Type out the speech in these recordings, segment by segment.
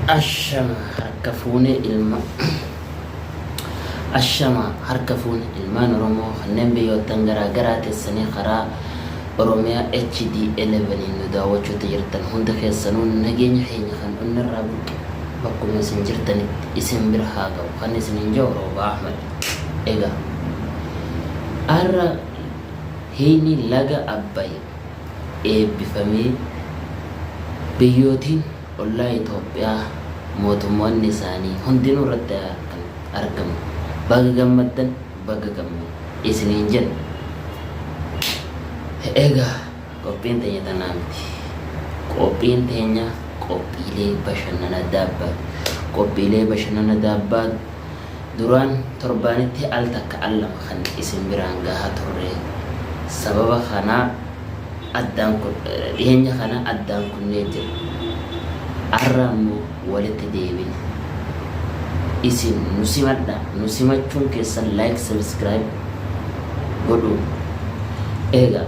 Ashama harka fuune ilma Ashama harka fuune ilmaan Oromoo kanneen biyyoottan garaa garaa teessanii karaa Oromiyaa HD 11 in nu daawwachuutti jirtan hunda keessanuu nageenya keenya kan onnarraa burqe bakkuma isin jirtanitti isin bira haa ga'u kan isiniin ja'u Roobaa Ahmad. Egaa arra hiini laga Abbay eebbifamee biyyootiin ollaa Itoophiyaa mootummoonni isaanii hundinuu irratti argaman baga gammaddan baga gamne isiniin jenna. Egaa qophiin teenya tanaa miti. Qophiin teenya qophiilee bashannana daabbaa qophiilee bashannana daabbaa Duraan torbaanitti al takka al lama kan isin biraan gahaa turre. Sababa kanaa addaan dhiheenya kana addaan kunnee jirra. Arra ammoo walitti deebina. Isin nu simadha. Nu simachuun keessan like subscribe godhuun. Eegaa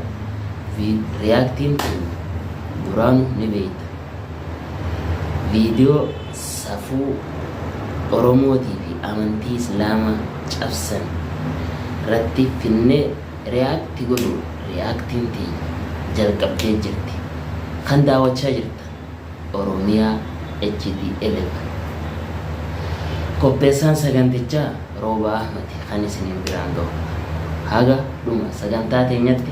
reactiin keenya duraanu ni beeyta. Viidiyoo safuu oromootii fi amantii islaamaa cabsan ratti finnee react godhuun reacting tiyya jalqabdee jirti kan daawachaa jirtan oromia HD 11 qopheessaan sagantichaa roobaa ahmadi kan isiniin biraan gahu ta'a haga dhuma sagantaa teenyatti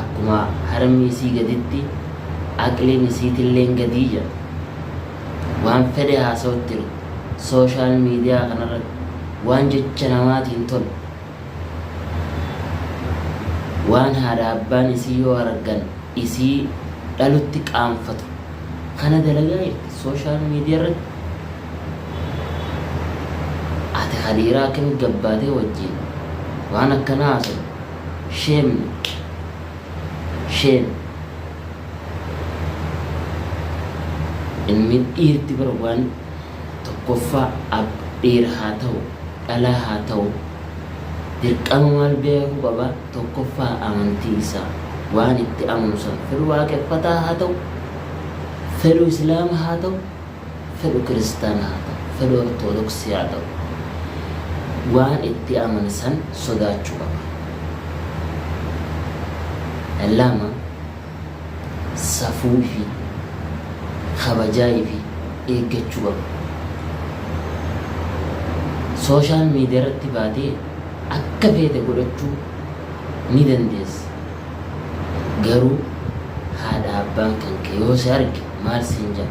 akkuma harmi isii gaditti aqliin isiitilleen gadii jedha. Waan fedhe haasawuttinu social media kanarratti waan jecha namaatiin tolu waan haadha abbaan isii yoo argan isii dhalutti qaanfatu kana dalagaa jirti social media irratti. Ati ka dhiiraa akkamitti gabbaatee wajjiin waan akkanaa haasawdu Shame Shame Inni dhiirti bar waan tokkoffaa Ab dhiira haa ta'u dhalaa haa ta'u dirqama maal beekuu qaba tokkoffaa amantii isaa waan itti amanu san fedhu waaqeffataa haa ta'u fedhu islaama haa ta'u fedhu kiristaana haa ta'u, fedhu ortodoksii haa ta'u waan itti amane san sodaachuu qaba. 2, Safuu ifii, kabajaa ifii eeggachuu qaba. Social media irratti baatee akka feete godhachuu ni dandeessa. Garuu haadha abbaan kan kee yoo si arge Maal siin ja'a?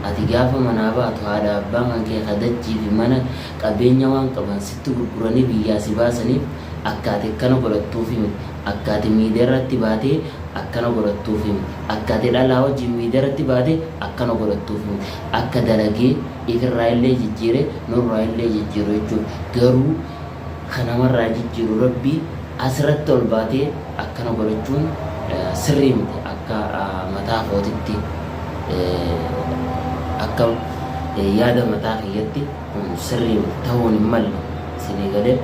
Ati gaafa manaa baatu haadha abbaa mankee ka dachii fi mana, qabeenya waan qaban sitti gurguranii biyyaa si baasaniif akka ati akkana godhattuufi miti. Akka ati miidiyaarratti baatee akkana godhattuufi miti. Akka ati dhalaa wajjiin miidiyaarratti baatee akkana godhattuufi miti. Akka dalagee ifirraayillee jijjiiree nurraayillee jijjiiru jechuudha. Garuu. ka namarraa jijjiiru Rabbi asirratti ol baatee akkana godhachuun sirrii miti akka mataa kootitti akka yaada mataa kiyyatti kun sirrii miti ta'uun hin malle isinii galee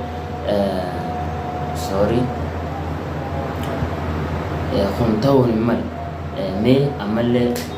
sorry kun ta'uun hin malle mee ammallee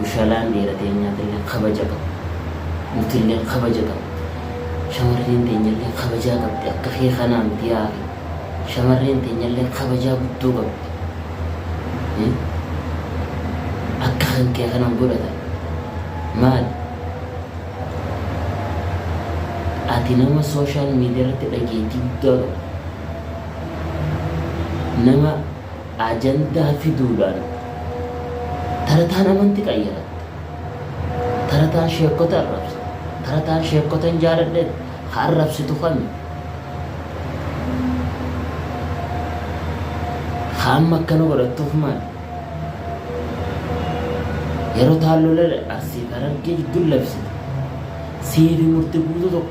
Bushalaan dhiira teenyaafillee kabaja qaba. Nutilleen kabaja qabna. Shamarreen teenyallee kabajaa qabdi. Akka kee kanaa miti yaa akhi. Shamarreen teenyallee kabajaa guddoo qabdi. Akka kan kee kana hin godhatan. Maali? Ati nama social media irratti dhageettii guddaa qabdu. Nama ajandaa fiduudhaan tarataan amanti qayyaratte, tarataan sheekkota arrabsite, tarataan sheekkotan jaaladhe ka arrabsitu kami? Ka amma akkana godhattuuf maali? Yeroo taan lola Arsii fi Harargee jidduu labsite siifi murti guutuu tokko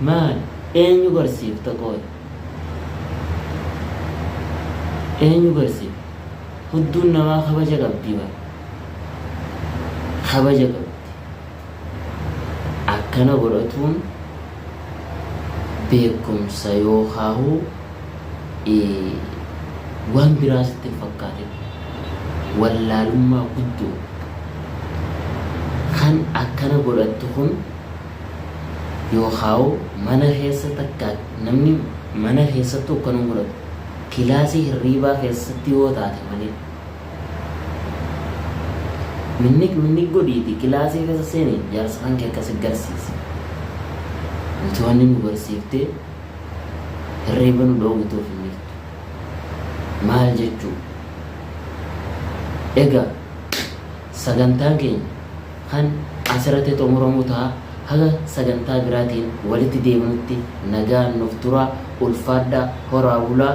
Maali? Eenyu barsiifta qooy? Eenyu barsiifta? Hudduun namaa kabaja qabdi bar. Kabaja qabdi. Akkana godhatuun beekumsa yookaahu waan biraa sitti hin fakkaatin. Wallaalummaa guddoo kan akkana godhattu kun Yookaa'u mana keessa takka namni mana keessattuu akka nun godhatu. Kilaasii hirriibaa keessatti yoo taate malee. Minniq minniq godhiiti kilaasii keessa seeni jaarsa kan kee akkasi garsiisi. Nuti wanni nu barsiiftee hirriiba nu dhoowwituuf hin jirtu. Maal jechuu? Egaa Sagantaan keenya kan asirratti xumuramu taha haga sagantaa biraatiin walitti deebinutti nagaan nuuf turaa ulfaadhaa horaa bulaa.